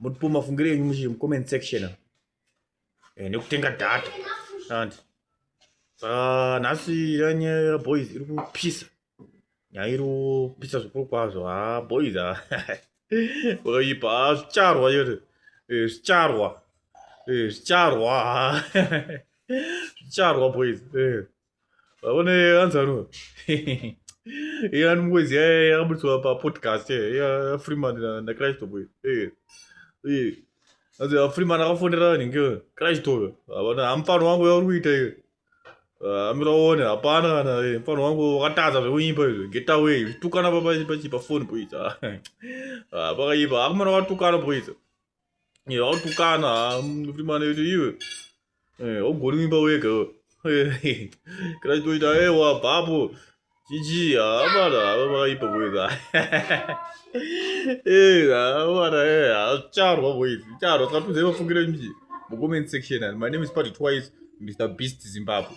motipoma fungire yenyu muchi comment section eh, nekutenga data and ah, nhasi yanye boys iri kupisa nyaya iri kupisa zvikuru kwazvo ha ah, boys ha oipa ah. zvicharwa yoto eh, zvicharwa eh, zvicharwa zvicharwa boys vaone anzano iye ani mukwezi yaye yakaburitswa papodcast yafreeman nacristo boy anzi afreeman akafonera nhinge cristo havana hamufano wangu yauri kuita iyo amira uone hapana kana mufano wangu wakatadza zvekunyimba izvo getaway zvitukana papachi pafoni boys pakaipa akumana watukana boys Eh, wautukana ah, mfrimana kuti iwe eh, augoni kuimba wega eh, kana chitoita ewa eh, bhapo chichi hamana ah, havakaipa boiza hamana hazvicharwa boiz vicharwa saka tuzai vafungire mji mucomment section my name is party twice mr beast zimbabwe